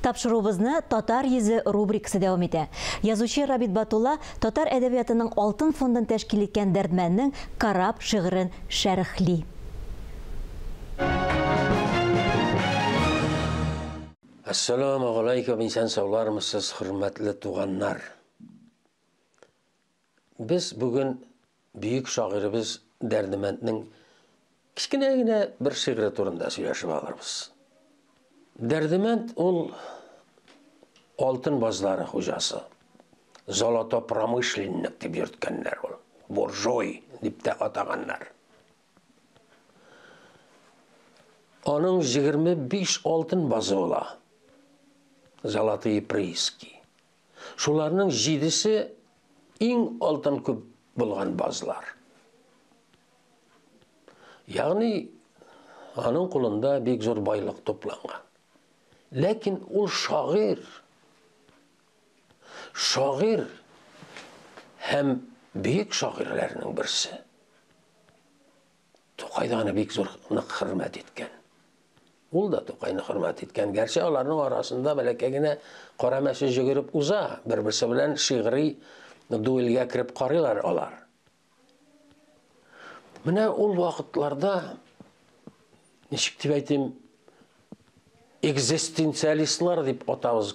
Тапшыруыбызны Татар йөзе рубрикасы дәвам итә. Язучы Рабит Батулла татар әдәбиятының алтын фондын тәшкил иткән Дәрдмәннең Караб шигырен шәрехли. Ассаламу галәйкүм, исән-саулармысыз, хөрмәтле туганнар! Без бүген бөек шагыйребез Дәрдемәнднең кечкенә генә бер шигыре турында сөйләшеп алырбыз. Дәрдемәнд ул алтын базлары хуҗасы. Золото промышленник дип йөрткәннәр ул. Буржуй дип тә атаганнар. Аның 25 алтын базы була. Золотые прииски. Шуларның җидесе иң алтын күп булган базлар. Ягъни аның кулында бик зур байлык тупланган. Ләкин ул шагыйрь. Шагыйрь һәм бөек шагыйрьләрнең берсе. Тукай да аны бик зур нык хөрмәт иткән. Ул да Тукайны хөрмәт иткән. Гәрчә аларның арасында бәләкәй генә кара мәче җөгереп уза, бер-берсе белән шигъри дуэльгә кереп карыйлар алар. Менә ул вакытларда ничек дип әйтим, экзистенциалистлар дип атабыз,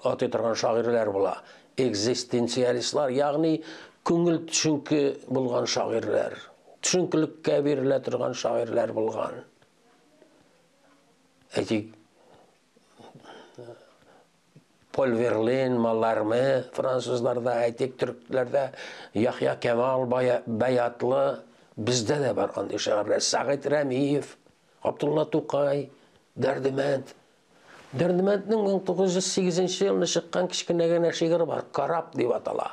атый торган шагыйрьләр була. Экзистенциалистлар, ягъни күңел төшенке булган шагыйрьләр, төшенкелеккә бирелә торган шагыйрьләр булган. Әйтик, Поль Верлин, Маларме, французларда, әйтик, төркләрдә, Яхья Кемал, Баятлы, бездә дә бар андый шагыйрьләр. Сәгыйть Рәмиев, Абдулла Тукай, Дәрдемәнд. Дәрдемәнднең 1908 елны чыккан кечкенә генә шигыры бар, Карап дип атала.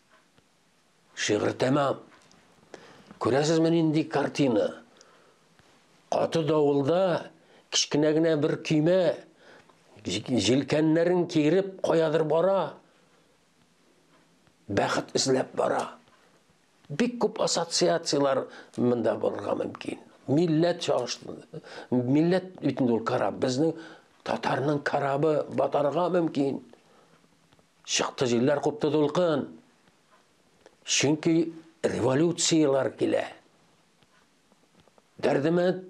Шигырь тәмам. Күрәсезме нинди картина? Каты давылда кечкенә генә бер көймә җилкәннәрен киереп каядыр бара. Бәхет эзләп бара. Бик күп ассоциацияләр монда булырга мөмкин. Милләт чагышты. Милләт бит инде ул кораб. Безнең татарның корабы батарга мөмкин. Чыкты җилләр купты дулкын. Чөнки революцияләр килә. Дәрдемәнд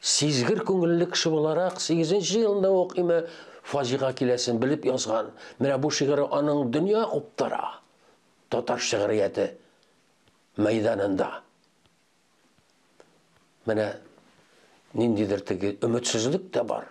сизгер күңелле кеше буларак 8 елында ук име фаҗига киләсен белеп язган. Менә бу шигыре аның дөнья куптара. Татар шигърияте мәйданында. Менә ниндидер теге өметсезлек тә бар.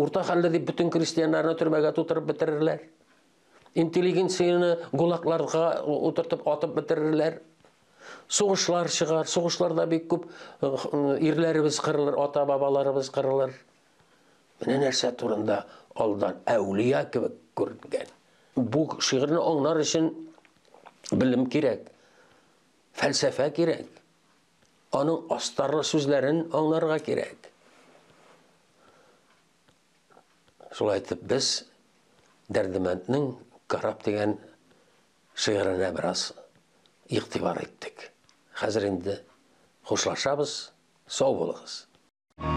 Урта хәлле дип бөтен крестьяннарны төрмәгә тутырып бетерерләр. Интеллигенцияне гулакларга утыртып атып бетерерләр. Сугышлар чыгар, сугышларда бик күп э, э, ирләребез кырылыр, ата бабаларыбыз кырылыр. Менә нәрсә турында алдан әүлия кебек күренгән. Бу шигырьне аңлар өчен белем кирәк. Фәлсәфә кирәк. Аның астарлы сүзләрен аңларга кирәк. Шулай итеп без Дәрдемәнднең Карап дигән шигыренә бераз игътибар иттек. Хәзер инде хушлашабыз, сау булыгыз.